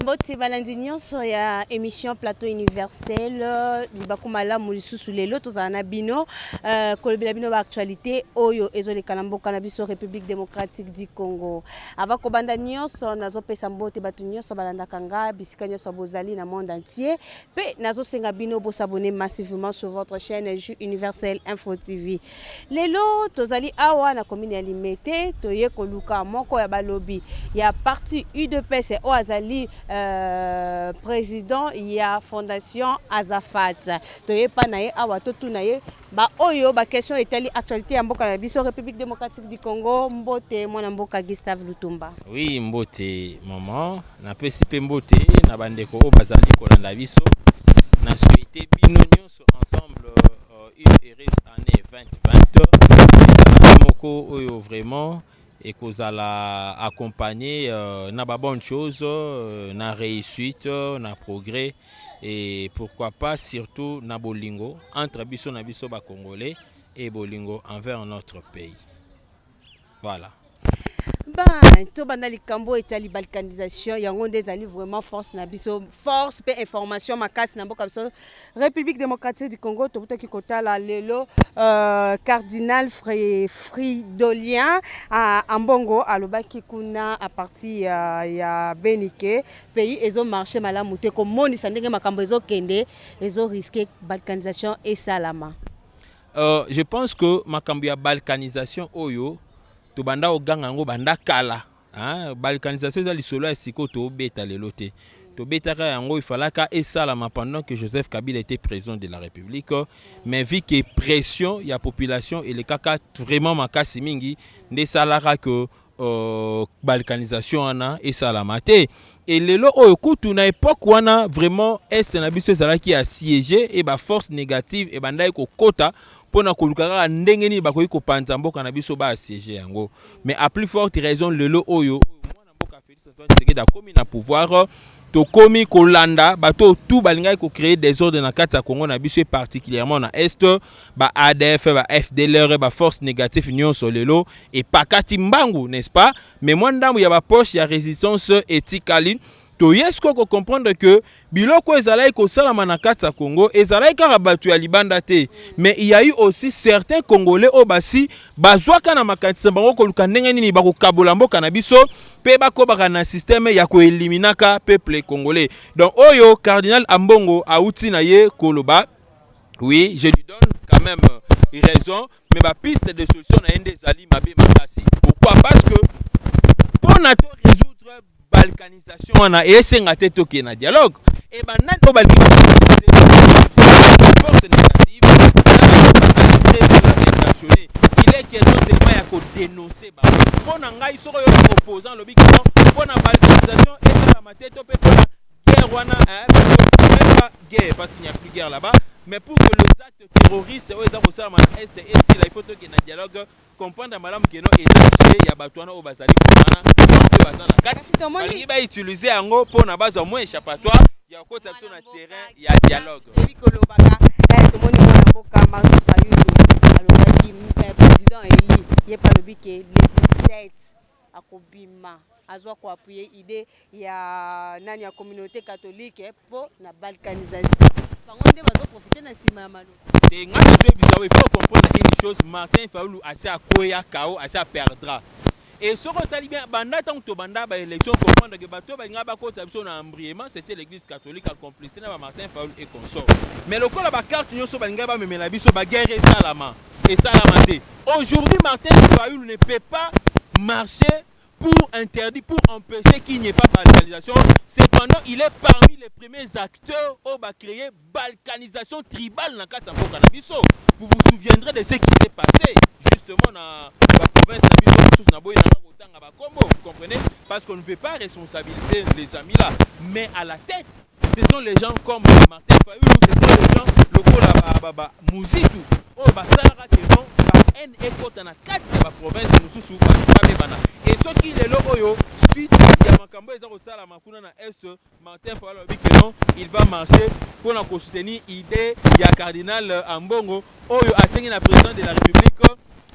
Mbote balandi nyonso ya emission plateau universel libaku malamu lisusu lelo tozala na bino euh, kolobela bino baactualité oyo ezoleka na mboka na biso république démocratique du congo ava kobanda nyonso nazopesa mbote bato nyonso balandaka nga bisika nyonso bozali na monde entier mpe nazosenga bino bosabone massivement sur votre chaîne ju universel info tv Lelo tozali awa na commune ya Limete toye koluka moko ya balobi ya parti UDPS oyo azali euh, président ya fondation Azafat. Toye pa na ye awa totuna ye baoyo baquestion etali actualité ya mboka na biso République démocratique du Congo. Mbote mwana mboka Gustave Lutumba. Oui, mbote maman, napesi mpe mbote na bandeko oyo bazali kolanda biso na souhaite bino nyonso ensemble euh, une heureuse année 2020 moko oyo vraiment ekozala accompagné euh, na ba bonne chose euh, na réussite euh, na progrès et pourquoi pas surtout na bolingo entre biso na biso ba congolais et bolingo envers notre pays voilà ben tobanda likambo oyo etali balkanisation yango nde ezali vraiment force na biso force mpe information makasi na mboka biso république démocratique du congo tokutaki kotala lelo euh, cardinal Fri- fridolien ah, ambongo alobaki kuna a partir ya, ya benike pays ezomarche malamu te komonisa ndenge makambo ezokende ezoriske balkanisation esalama Euh, je pense que makambo ya balkanisation oyo tobanda koganga yango banda kala hein? balkanisation eza lisolo ya sikoyo tobeta lelo te tobetaka yango ifalaka esalama pendant que joseph kabila était président de la république mais vu que pression ya population elekaka vraiment makasi mingi nde esalaka que Euh, balkanisation wana esalama te e lelo oyo kutu na epoke wana vraiment est na biso ezalaki ya siege e baforce négative ebandaki kokota mpo na koluka kaka ndenge nini bakoki kopanza mboka na biso baasiege yango mais à plus forte raison lelo oyo Antoine Tshisekedi akomi na pouvoir tokomi kolanda bato oyo tout balingaki kocreye desordre na kati ya congo na biso e particulièrement na est ba adf ba fdlr ba force négative nyonso lelo epakati mbangu n'est-ce pas mais mwa ndambo ya bapoche ya résistance etikali toye sikoyo kocomprendre que biloko ezalaki kosalama na kati ya Congo ezalaki kaka bato ya libanda te mais il y a eu aussi certains congolais oyo basi bazwaka na makanisi na bango koluka ndenge nini bakokabola mboka na biso mpe bakobaka na systeme ya koeliminaka peuple congolais donc oyo cardinal ambongo auti na ye koloba oui je lui donne quand même raison mais ba piste de solution na ye nde ezali mabe makasi pourquoi parce que mpo na to résoudre balkanisation wana esenga te tokende na dialogue e banani oyo balingi force négative il est question seulement ya kodénonce bango mpo na ngai soko yo opposant alobi kino mpo na balkanisation esalama te to mpe mpo na guerre wana guerre parce qu'il n'y a plus guerre là-bas mais pour que les actes terroriste oyo eza kosalama na est esila ifo tokende na dialogue comprendre malamu keno eza jeu ya bato wana oyo bazali wana mpe baza na kati balingi bautilize yango mpo na bazwa mwa échappatoire ya kokotisa biso na terrain ya dialogue ebi kolobaka eh, tomoni mwana mboka martin fayulu alobaki eh, président eli ye mpe alobi ke le 17 akobima azwa ko appuyer idee ya nani ya communauté catholique mpo na balkanisation bango nde bazo profite na nsima ya maloba te ngai nazoyebisa yo il faut comprendre une chose martin faulu asi akweya kao asi aperdra et soki otali bien banda ntango tobanda baélection comprendre ke bato oyo balingaka bakota biso na embriement c'était l'église catholique en complicité na bamartin faulu et consort mais lokola bacarte nyonso balingaki bamemela biso baguerre esalama esalama te aujourd'hui Martin fayulu ne peut pas marcher pour interdit pour empêcher qu'il n'y ait pas balkanisation cependant il est parmi les premiers acteurs au ba créer balkanisation tribale na kati ya mboka na biso vous vous souviendrez de ce qui s'est passé justement na ba province na biso mosusu na boye nanga kotanga ba kombo vous comprenez parce qu'on ne veut pas responsabiliser les amis là mais à la tête ce sont les gens comme Martin Fayulu, ce sont les gens lokola ba, ba, ba Muzitu oyo oh, basalaka que non ba haine ekota na kati ya ba province mosusu bato babebana e soki lelo oyo suite ya makambo eza kosalama kuna na est Martin Fayulu alobi que non il va marcher mpo na kosoutenir idée ya cardinal Ambongo oyo asengi na président de la République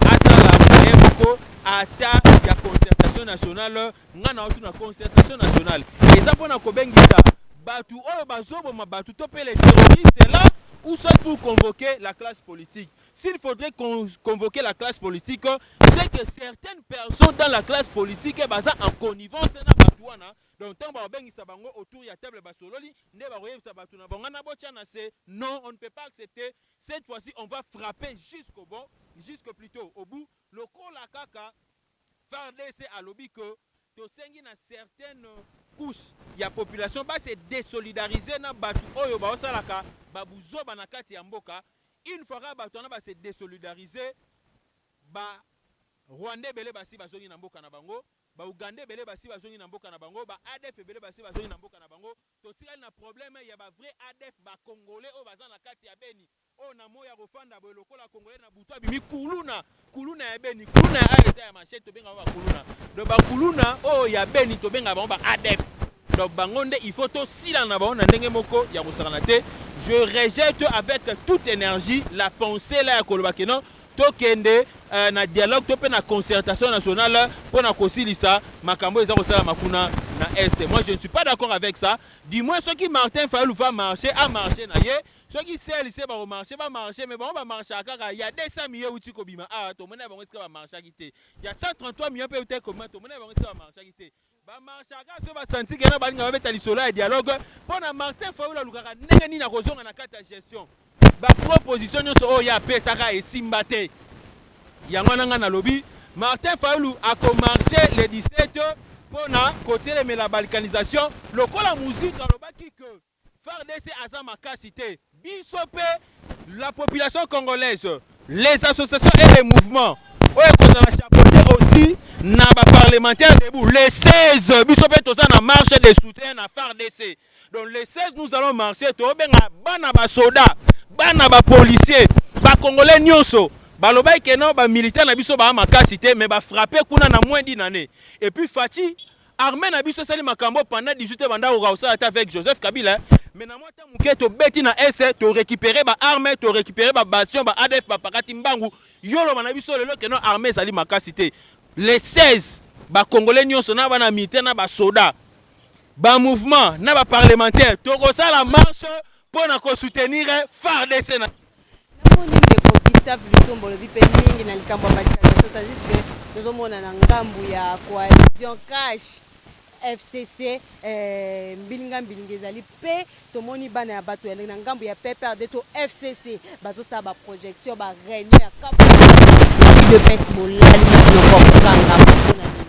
asala moyen moko ata ya concertation nationale nga na otu na concertation nationale eza mpo na kobengisa bato oyo bazoboma bato to mpe les terroristes là ou soit pour convoquer la classe politique s'il faudrait con convoquer la classe politique c'est que certaines personnes dans la classe politique baza en connivence na bato wana donc ntango bakobengisa bango autour ya table basololi nde bakoyebisa bato na bango wana botya na se non on ne peut pas accepter cette fois-ci on va frapper jusqu'au bon jusque plutôt au bout lokola kaka Fardc alobi que tosengi na certaines couches ya population ba se desolidariser na batu oyo bazo salaka ba buzoba na kati ya mboka, une fois kaka batu wana ba se desolidariser, ba rwandais ebele basi bazongi na mboka na bango, ba ougandais ebele basi bazongi na mboka na bango, ba adf ebele basi bazongi na mboka na bango, totikali na problème ya ba vrais adf ba congolais oyo baza na kati ya beni Oyo na moyi akofanda boye lokola congolais na butu abimi kuluna kuluna ya beni kuluna ya ayo eza ya machete tobenga bango bakuluna donc bakuluna oyo ya beni tobenga bango ba adf donc bango nde il faut tosila na bango na ndenge moko ya kosakana te je rejette avec toute énergie la pensée la ya koloba ke non tokende euh, na dialogue to mpe na concertation nationale mpo na kosilisa makambo eza kosalama kuna na est moi je ne suis pas d'accord avec ça du moins soki martin fayulu va marcher a marcher na ye Soki sel se bako marche ba marche mais bango ba marchaka kaka ya 200 millions euti kobima awa tomona bango esika ba marchaki te ya 133 millions mpe euti kobima tomona bango esika ba marchaki te ba marchaka so basanti kena balinga babeta lisolo ya dialogue mpo na Martin Fayulu alukaka ndenge nini akozonga na kati ya gestion ba proposition nyonso oyo ye apesaka esimba te yango wana ngai nalobi Martin Fayulu akomarche le 17 mpo na kotelemela balkanisation lokola Muzitu alobaki que Fardc aza makasi te biso pe la population congolaise les associations et les mouvements oyo ekozala chapeaute aussi na ba parlementaires debout le 16 biso pe toza na marche de soutien na fardc donc le 16 nous allons marcher tobenga bana ba soda bana ba policiers ba congolais nionso balobaki ke non ba militaires na biso ba makasi te mais ba frapper kuna na moins d'une annee et puis Fatshi Armee na biso esali makambo pendant 18 ans banda koka kosala ata avec Joseph Kabila mais na mwa temps moke tobeti na est to récupérer ba armes to récupérer ba bastion ba ADF ba pakati mbangu yo loba na biso lelo que non armée ezali makasi te les 16 ba congolais nyonso na bana militaire na ba soda ba mouvement na ba parlementaire tokosala marche mpo na kosoutenir FARDC na Namoni ndeko Gustave Lutumba olobi mpe mingi na likambo ya manifestation tandis que tozomona na ngambu ya coalition cash FCC eh, mbilinga mbilinga ezali mpe tomoni bana ya bato ya na ngambu ya PPRD to FCC bazosala ba projection ba réunion ya cap de pes bolali mokolo kokanga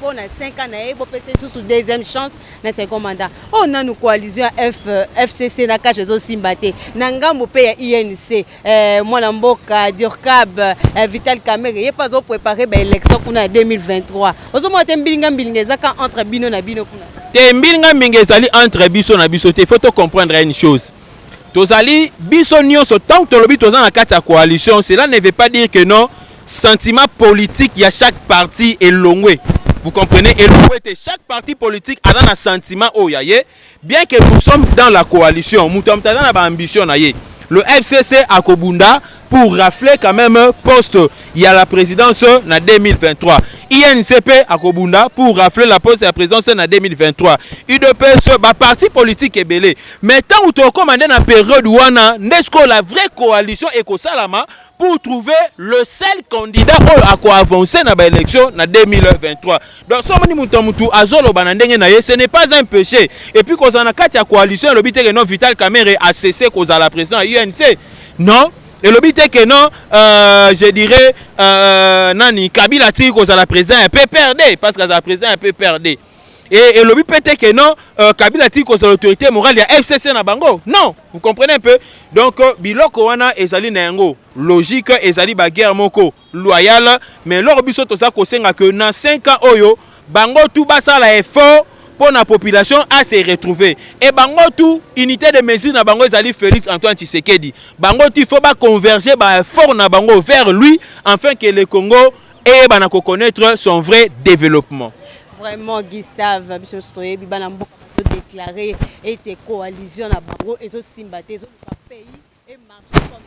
po na 5 ans na ye bopesa ye susu deuxième chance na second mandat oyo oh, nanu coalition ya fcc euh, na kashe ezosimba te na ngambo mpe ya unc eh, mwana mboka durcab eh, vital camere ye mpe azoprépare baélection kuna ya 2023 ozomona te mbilinga mbilinga eza ka entre bino na bino kuna te mbilinga mbilinga ezali entre biso na biso te faut tocomprendre une chose Tozali biso nionso tant tolobi toza na kati ya coalition cela ne veut pas dire que non sentiment politique ya chaque parti elongwe vous comprenez elongwe te chaque parti politique aza na sentiment oyo ya ye bien que nous sommes dans la coalition moto ya moto aza na ba ambition na ye le FCC akobunda pour rafler quand même poste ya la présidence na 2023 INCP akobunda pour rafler la poste ya présidence na 2023 UDPS ba parti politique ebele mais ntango tokoma nde na période wana nde sikoyo la vraie coalition ekosalama pour trouver le seul candidat oyo akoavancer na baélection na 2023 Donc soki omoni moto ya motu azoloba na ndenge na ye ce n'est pas un péché et puis kozala na kati ya coalition elobi te que non Vital Kamerhe a cessé kozala président ya UNC non elobi te que non euh, je dirais euh, nani Kabila atiki kozala président ya PPRD parce que azala président ya PPRD et elobi mpe te que non euh, Kabila atiki kozala autorité morale ya FCC na bango non vous comprenez un peu donc euh, biloko wana ezali na yango logique ezali baguerre moko loyal mais eloko biso toza kosenga que na 5 ans oyo bango tout basala effort mpo na population a se retrouver et bango tout unité de mesure na bango ezali Felix Antoine Tshisekedi bango tout il faut ba converger ba effort na bango vers lui afin que le Congo eyebana ko connaître son vrai développement. Vraiment Gustave biso toyebi bana mboka déclaré ete coalition na bango ezosimba te ezoka pays et marche comme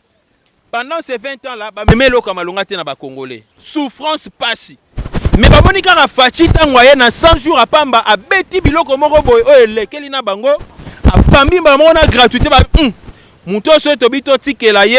Pendant ces 20 ans là, ba meme eloko ya malonga te na ba congolais. Souffrance pasi. Mais ba moni kaka Fatshi tango aye na 100 jours à pamba a beti biloko moko boye oyo elekeli na bango a pambi ba moko na gratuité ba hum, moto oso tobi to tikela ye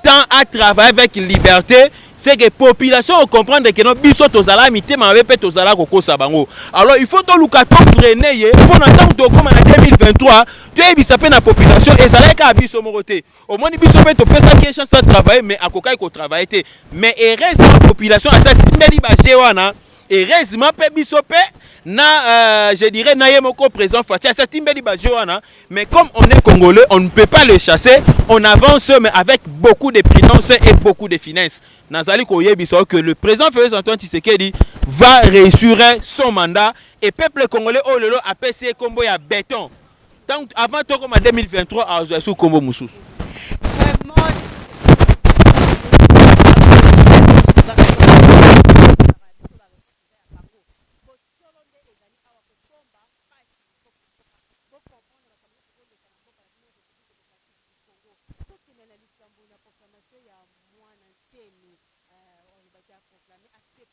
temps à travailler avec liberté c'est que population o comprendre que non biso tozala mitema mabe pe tozala kokosa bango alors il faut toluka to freine ye mpo na ntango tokoma na 2023 toyebisa mpe na population ezalaki kaka biso moko te omoni biso mpe topesaki ye chance atravaille mais akokaki kotravaille te mais heureusement population asi atimbeli baje wana heureusement mpe biso mpe na euh, je dirais na ye moko président faci asi atimbeli baje wana mais comme on est congolais on ne peut pas le chasser on avance mais avec beaucoup de prudence et beaucoup de finesse nazali koyebisa yo que le président félix antoine tshisekedi va réussir son mandat et peuple congolais oyo lelo apesi ye nkombo ya béton Tant avant toko ma 2023 a zo sous combo mususu.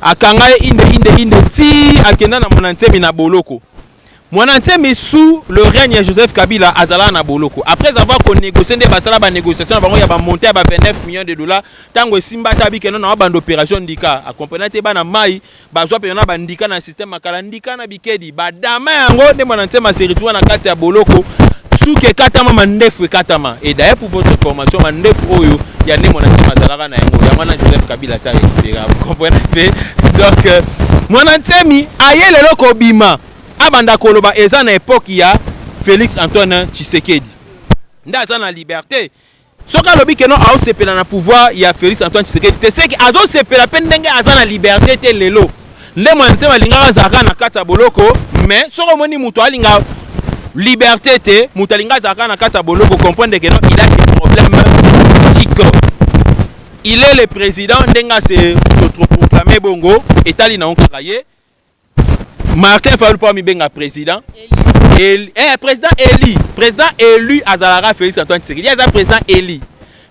Akanga ye inde inde inde ti akenda na mwana nsemi na boloko. Mwana nsemi sous le règne ya Joseph Kabila azalaka na boloko. Après avoir ko négocier nde basala ba négociation na bango ya ba montant ya ba 29 millions de dollars tango esimba ata abike non na banda opération ndika. A comprena te bana mayi bazwa pena na ba ndika na système makala ndika na bikedi. Tshisekedi. Ba dama yango nde mwana nsema se retrouva na kati ya boloko suki ekatama mandefu ekatama et d'ailleurs pour votre information mandefu oyo ya nde mwana nsema azalaka na yango yango wana Joseph Kabila asa récupéra vous comprenez mpe donc euh, mwana nsemi aye lelo kobima abanda koloba eza na epoque ya Félix Antoine Tshisekedi nde aza na liberté soki alobi keno aosepela na pouvoir ya Felix Antoine Tshisekedi te seki azosepela mpe ndenge aza na liberte te lelo nde mwana nsema alingaka azalaka na kati ya boloko mais soki omoni moto alinga liberte te moto alinga azalaka na kati ya boloko comprendre keno il a des problèmes psychiques il est le président ndenge ase autoproclame bongo etali na yo kaka ye Martin Fayulu pa mibenga président élu eh président élu président élu azalaka Félix Antoine Tshisekedi aza président élu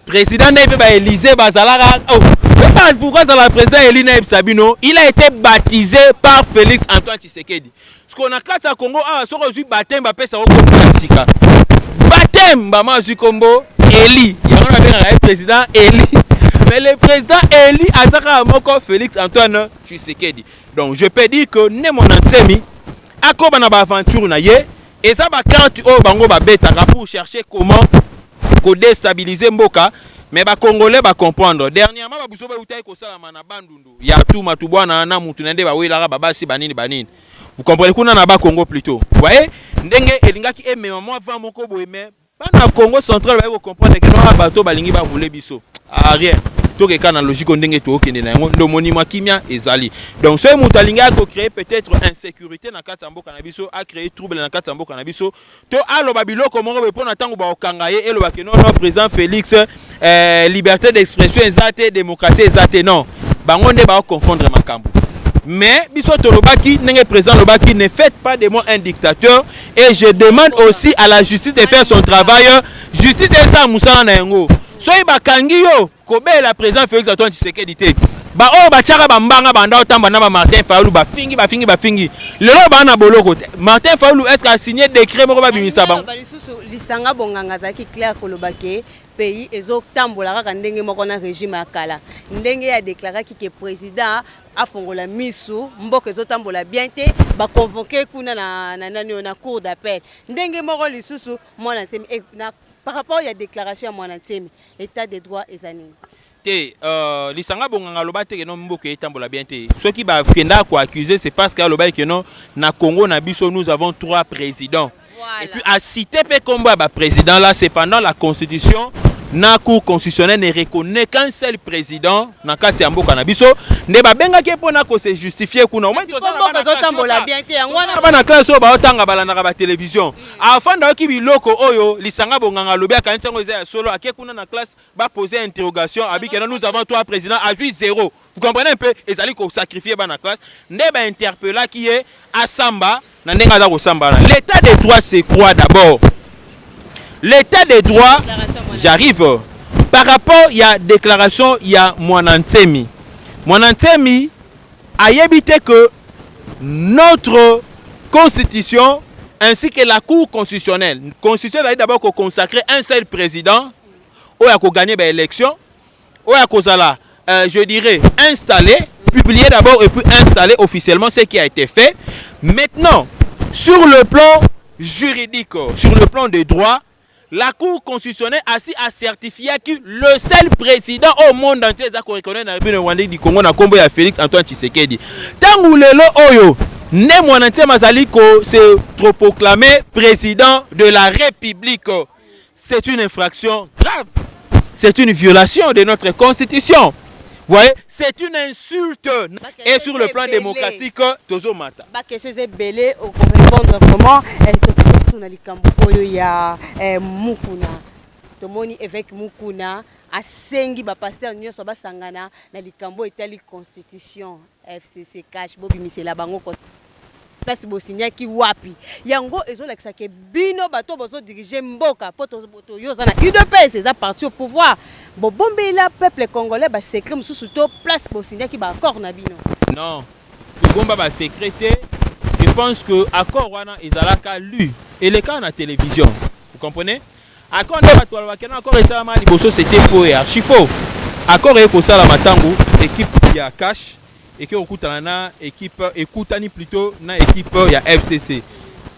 président naye pe ba Élysée bazalaka oh pe pas pourquoi azala président élu naye Sabino il a été baptisé par Félix Antoine Tshisekedi ce qu'on a kati ya Congo ah soko ozui baptême ba pesa ko ko sika baptême ba ma zui kombo élu yango na benga ye président élu mais le président élu azaka moko Félix Antoine Tshisekedi donc je peux dire que ne mwana nsemi akoba na baaventure na ye eza bakarte oyo bango babetaka pour chercher comment kodestabilise mboka me bacongolais bacomprendre dernièrement babuzo bautaki kosalama na bandundu ya tuma tubwana na mutu na nde bawelaka babasi banini banini vous comprenez kuna na bakongo plutôt voye ndenge elingaki emema mwa vent moko boye me bana congo central baye kocomprendre ke noa bato balingi barule biso ah, rien tokeka na logique ndenge tookende na yango ndo omoni mwa kimia ezali donc soki moto alingi akocree peut-être insécurité na kati ya mboka na biso acree trouble na kati ya mboka na biso to aloba biloko moko boye mpo na ntango bakokanga ye elobake nono président félix eh, liberté d'expression eza te démocratie eza te non bango nde bao confondre makambo mais biso tolobaki ndenge président alobaki ne faites pas de moi un dictateur et je demande aussi à la justice de faire son travail justice esala mosala na yango soki bakangi yo kobela président félix antoine tshisekedi te baoyo batyaka bambanga banda otamba na bamartin fayulu bafingi bafingi bafingi lelo baa na boloko te martin fayulu estce asigne décret moko babimisa bango Lisanga bonganga azalaki clair koloba ke pays ezotambola kaka ndenge moko na regime ya kala ndenge ye adeklaraki ke président afongola misu mboka ezotambola bien te baconvoke kuna na, na nani oyo na cour d'appel ndenge moko lisusu mwana nsemi e, na, par rapport ya déclaration ya mwana nsemi état de droit eza nini te euh, lisanga bonganga aloba te keno mboka etambola bien te soki bakenda koaccuse c'est parce que alobaki keno na congo na biso nous avons trois présidents voilà. et puis acite mpe nkombo ya baprésident là cependant la constitution na cour constitutionnelle ne reconnaît qu'un seul président na kati ya mboka na biso nde babengaki ye mpona kose justifie kuna bana classe oyo baotanga balandaka batelevizio afanda oyoki biloko oyo lisanga bonganga alobi akanisi yango eza ya solo ake kuna na classe ba poser interrogation abi que nous avons trois présidents à vie zéro vous comprenez un peu ezali ko sacrifier bana classe nde ba interpella qui est asamba na ndenge aza kosamba na l'état de droit c'est quoi d'abord l'état de droit j'arrive par rapport ya déclaration ya mwana nsemi mwana nsemi ayebi te que notre constitution ainsi que la cour constitutionnelle constitution ezali d'abord ko consacrer un seul président oyo ako gagner ba élections oyo akozala euh, je dirais installé publié d'abord et puis installé officiellement ce qui a été fait maintenant sur le plan juridique sur le plan de droit la cour constitutionnelle asi a certifié que le seul président au monde entier eza koreconnaitre na république rwandais du congo na nkombo ya félix antoine tshisekedi ntango lelo oyo nde mwana ntiema azali ko se troproclame président de la république C'est une infraction grave. C'est une violation de notre constitution. Vous voyez, c'est une insulte. Et sur le plan démocratique, Tozo Mata. Ba question est belé, on peut répondre vraiment. Eh, tout na likambo oyo ya eh, Mukuna. Tomoni évêque Mukuna asengi ba pasteur nyonso basangana na likambo etali constitution. FCC cash bobimisela bango ko place bosinyaki wapi yango ezolakisa ke bino bato bozodirige mboka mpo toyo oza na udps eza parti au pouvoir bobombela peuple congolais basecret mosusu to place bosinyaki baaccord na bino non tobomba basecret te je pense que accord wana ezalaka lu elekaka na télévision vous comprenez Accord nde bato balobaka kena accord esalamaka liboso c'était faux et archi faux. Accord eye kosalama ntango equipe ya cash eke kokutana na equipe ekutani plutôt na equipe ya FCC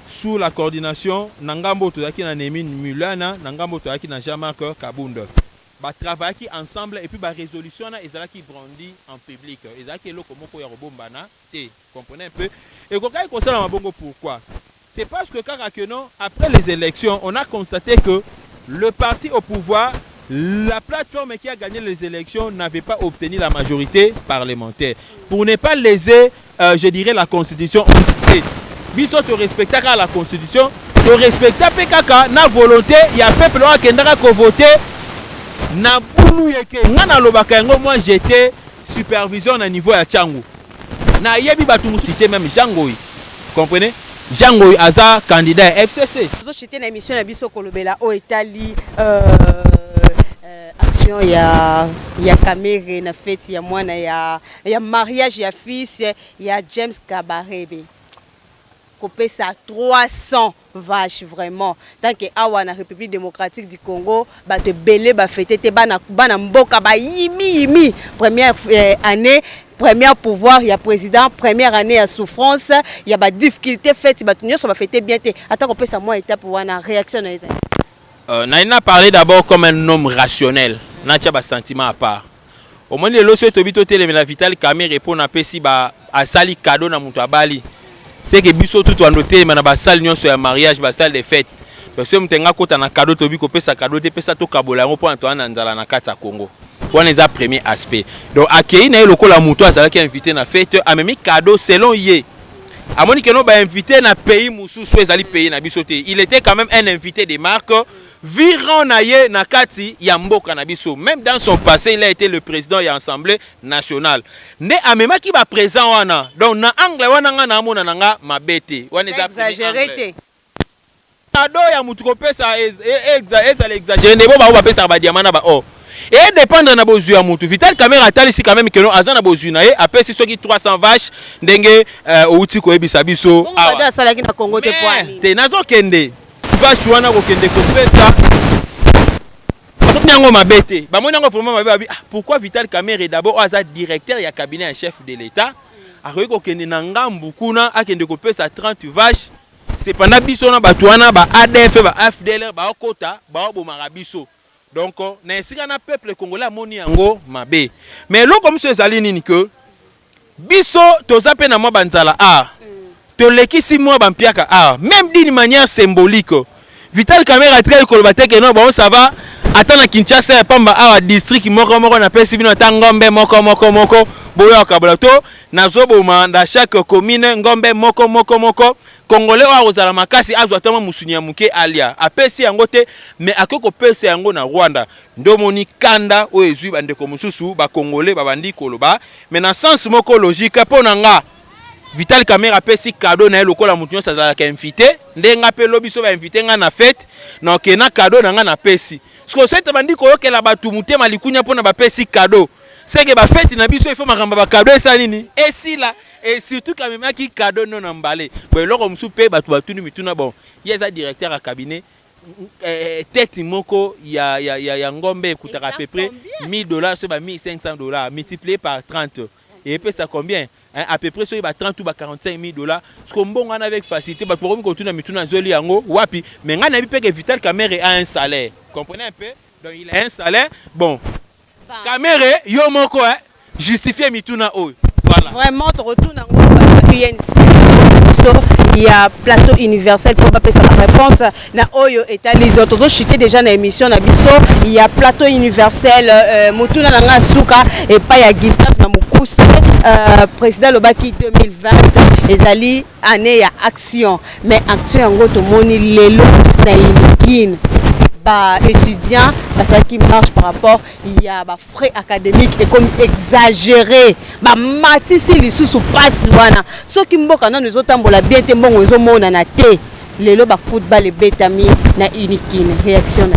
sous la coordination na ngambo oyo tozalaki na Nemin Mulana na ngambo oyo tozalaki na Jean-Marc Kabund ba travaillaki ensemble et puis ba resolution wana ezalaki brandi en public ezalaki eloko moko ya kobombana te comprenez un peu ekokaki kosalama bongo pourquoi c'est parce que kaka que non après les elections on a constate que le parti au pouvoir la plateforme qui a gagné les elections n'avait pas obtenu la majorité parlementaire pour ne pas léser euh, je dirais la constitution et biso to respectaka la constitution to respecta pe kaka na volonté ya peuple oyo akendaka ko voter na bulu yeke nga nalobaka yango moi j'étais supervision na niveau ya tshangu nayebi batu mosusu te meme jean ngoyi comprenez jean ngoyi aza candidat ya fcc tozochite na émission na biso kolobela oyo etali euh, euh, action ya ya kamere na feti ya mwana ya, ya mariage ya fils ya james kabarebe kopesa 300 vache vraiment tanke awa na republique democratique du congo bato ebele bafete te bana, bana mboka bayimi yimi première eh, année première pouvoir ya président première année ya souffrance ya badifficulté fete bato nyonso bafete bien te ata kopesa mwa étape wana réaction na ezali euh, naina parler d'abord comme un homme rationnel natya basentiment à part Omoni lelo soki tobi totelemela Vital Kamerhe mpo na apesi ba asali cadeau na moto abali seke biso tutu ando telema na basale nyonso ya mariage basale de fete donc soki moto enga kota na cadeau tobi kopesa cadeau te pesa tokabola yango mpo na toa na nzala na kati ya Congo wana eza premier aspect donc akei na ye lokola moto azalaki invité na fete amemi cadeau selon ye amoni keno bainvite na pays mosusu ezali pays na biso te il était quand même un invité de marque virons na ye na kati ya mboka na biso meme dans son passe il a été le president ya assemble nationale nde amemaki ba present wana donc na angle wana nga na amona na nga mabe te wana eza exagerete kado ya motu kopesa ezala exagere ndebo bango bapesaka badiama na ba or e dependre na bozwi ya motu vital camera atalisi quand meme keno aza na bozwi na ye apesi soki 300 vache ndenge euh, outi koyebisa biso awa asalaki na congo te nazokende vache wana kokende kopesa bamoni yango mabe te bamoni yango vraiment mabe babi ah, pourquoi vital kamere d'abord oyo aza directeur ya cabinet ya chef de l'état akoki kokende na ngambu kuna akende kopesa 30 vache cependant biso na bato wana ba adf ba fdlr baokota baobomaka biso Donc na esika na peuple congolais amoni yango mabe mais eloko mosusu ezali nini que biso toza mpe na mwa banzala awa tolekisi mwa bampiaka awa meme d'une manière symbolique vital camera atikali koloba te keno bango ça va ata na kinshasa ya pamba awa district moko moko napesi bino ata ngombe moko moko moko boya okabola to nazoboma na chaque commune ngombe moko moko moko Congolais oyo akozala makasi azwa ata mwa musuni ya moke alia, apesi yango te me akoki kopesa yango na Rwanda. Nde omoni kanda oyo ezwi bandeko mosusu ba Congolais babandi koloba me na sens moko logique mpo na nga Vital Kamerhe apesi cadeau na ye lokola moto nyonso azalaka invite, nde nga mpe lobi so ba invite nga na fete na oke na cadeau na nga napesi. Sikoyo soki tobandi koyokela bato motema likunya mpo na bapesi cadeau, seke ba fete na biso il faut makambo ya ba cadeau esala nini? Esila. et surtout kamemaki cadeau no na mbale bo eloko mosusu mpe bato batuni mituna bon ye aza directeur ya cabinet eh, eh, tete moko ya, ya, ya, ya ngombe ekutaka à peu près 1000 dollars soki ba 1500 dollars multiplié par 30 epesa combien hein, à peu près soki ba 30 ou ba 45 000 dollars siko mbongo wana avec facilité bato bakomi kotuna mituna azweli yango wapi mais ngai nayebi mpe ke vital camere a un salaire comprenez un peu donc il a un salaire bon Kamere yo moko eh justifier mituna oyo. Voilà. Vraiment tokotuna ngo ba UNC biso ya plateau universel mpo bapesa ba réponse na oyo etali donc tozochute déjà na émission na biso ya plateau universel euh, motuna na ngai ya suka epai ya gustave na mokuse euh, président alobaki 2020 ezali Annee ya action mais action yango tomoni lelo na Inokine ba étudiants basalaki marche par rapport ya ba frais académique ekomi exagéré bamatisi lisusu mpasi wana soki mboka nano ezotambola bien te mbongo ezomonana te lelo bakude bale ebetami na Inokine réaction na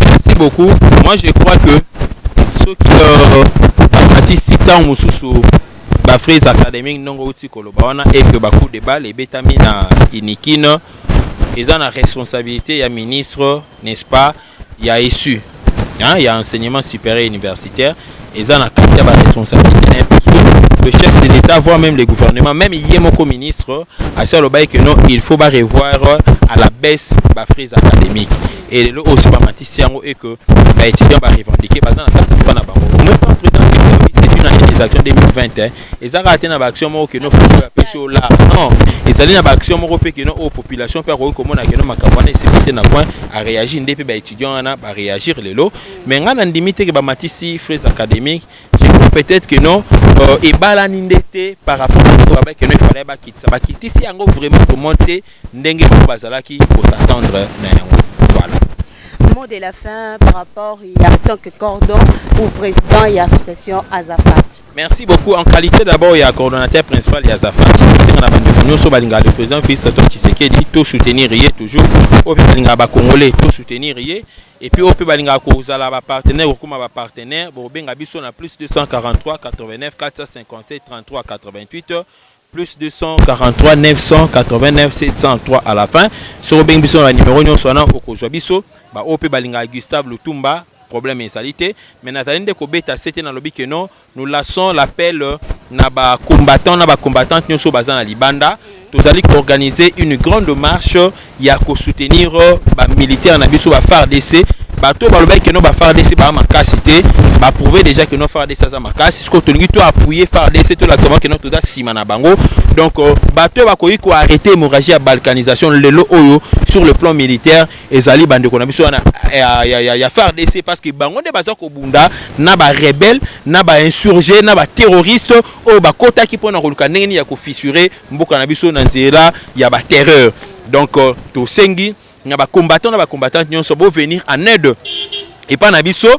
merci beaucoup moi je crois que soki euh, bamatisi ntango mosusu ba Fraise Academy ndongo outi koloba wana et que ba coup de balle ebetami na Inikine eza na responsabilité ya ministre n'est-ce pas ya ESU hein, ya enseignement supérieur universitaire eza na kati ya ba responsabilité na parce que le chef de l'État voire même le gouvernement même ye moko ministre asi alobaki que non il faut ba revoir à la baisse ba Fraise académique et lelo oyo bamatisi yango e que baétudiant barevendique baza na kati ya mboka na bango omoi pas président du service c'est une année des actions 2020 hein. eza kaka te na baaction moko keno fo bapesi yo lar non ezali na baaction moko mpe keno oyo population mpe akoki komona keno makambo wana esili te na coin aréagir nde mpe baétudiant wana baréagir lelo mais ngai nandimi te ke bamatisi fraise académique peut-être que non euh, ebalani nde te par rapport na oyo babaki no efalai bakitisa bakitisi yango vraiment komon te ndenge bango bazalaki ko s'attendre na yango voilà mot de la fin par rapport ya tant que cordon ou président ya association Azafat merci beaucoup en qualité d'abord ya coordonnateur principal ya Azafat tosenga na bandeko nyonso balingaka le président Fils Antoine Tshisekedi to soutenir ye toujours oyo mpe balingaka bakongolais to soutenir ye et puis oyo mpe balingaka kozala bapartenaire kokoma bapartenaire bokobenga biso na plus 243 89 457 33 88 plus 243 989 703 à la fin soki obengi biso na banimero nyonso wana okozwa biso baoyo mpe balingaka gustave lutumba problème ezali te mais nazali nde kobeta sete nalobi que non nous lassons l'appel euh, na bacombattant na bacombattante nyonso oyo baza na libanda tozali koorganiser une grande marche ya ko soutenir euh, ba militaire na biso ba FARDC bato oyo balobaki keno ba FARDC baa makasi te ba prouver déjà keno FARDC aza makasi sikoyo tolingi to appuyer FARDC tolakisa bango keno toza nsima na bango donc euh, bato oyo bakoki ko arrêter hémorragie ya balkanisation lelo oyo sur le plan militaire ezali bandeko na biso wana ya, ya, ya, ya FARDC parce que bango nde baza kobunda na ba rebelle na ba insurgé na ba terroriste oyo bakotaki mpo na koluka ndenge nini ya kofisure mboka na biso na nzela ya ba terreur donc euh, tosengi na ba combattants na ba combattantes nyonso bo venir en aide epa na biso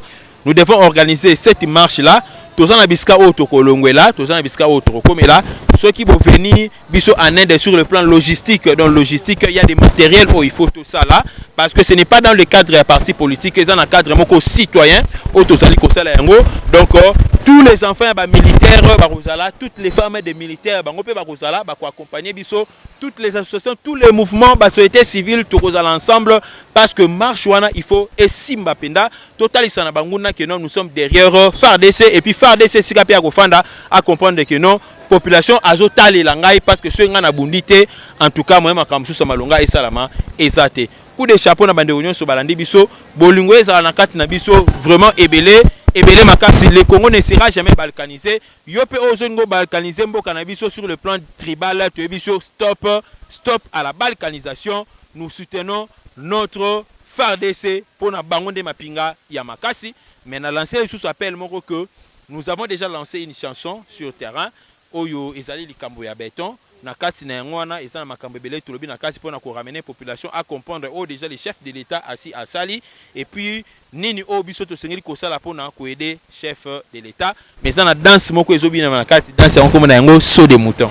nous devons organiser cette marche là toza na bisika oyo tokolongwela toza na bisika oyo tokokomela soki boveni biso en inde sur le plan logistique dans logistique il y a des matériels oyo il faut tosala parce que ce n'est pas dans le cadre ya parti politique eza na cadre moko citoyen oyo tozali kosala yango donc euh, tous les enfants ya bamilitaire bakozala toutes les femmes des militaires Terre bango pe bakozala ba ko accompagner biso toutes les associations tous les mouvements ba société civile tokozala ensemble parce que marche wana il faut esimba penda totalisa na banguna que non nous sommes derrière euh, FARDC et puis FARDC sika pe akofanda a comprendre que non population azotalela ngai parce que soki ngai nabundi te en tout cas moye makambo mosusu ya malonga esalama eza te coup de chapeau na bandeko nyonso balandi biso bolingo ezala na kati na biso vraiment ebele ebele makasi le congo ne sera jamais balkanisé Yo pe ozo linga obalkaniser mboka na biso sur le plan tribal toyebi sur stop stop à la balkanisation nous soutenons notre fardc pona bango nde mapinga ya makasi mais na lancer lisusu appel moko que nous avons dejà lancer une chanson sur terrain oyo ezali likambo ya beton na kati na yango wana eza na makambo ebele tolobi na kati pona ko ramener population a comprendre oyo dejà le chef de l'etat asi asali et puis Nini oyo biso tosengeli kosala pona ko aider chef de l'etat? Mais eza na danse moko ezo binama na kati, danse yango kombo na yango saut de mouton.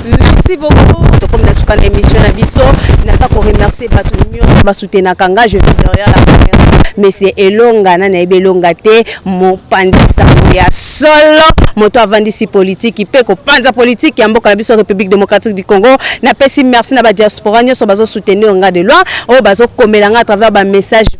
Merci beaucoup tokomi na suka na emission na biso naza ko remercier batu nionso ba soutenaka nga je vis derrière la camera monsieur Elonga na nayebi Elonga te mopanzi sango ya solo moto avandisi politiki mpe kopanza politiki ya mboka na biso République démocratique du Congo napesi merci na ba diaspora nionso bazo soutenir nga de loin oyo bazo komela nga à travers ba message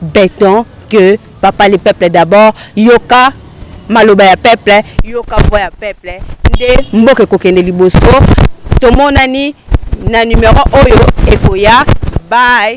beton que papa le peuple d'abord yoka maloba ya peuple yoka voix ya peuple nde mboka ekokende liboso tomonani na numero oyo ekoya bye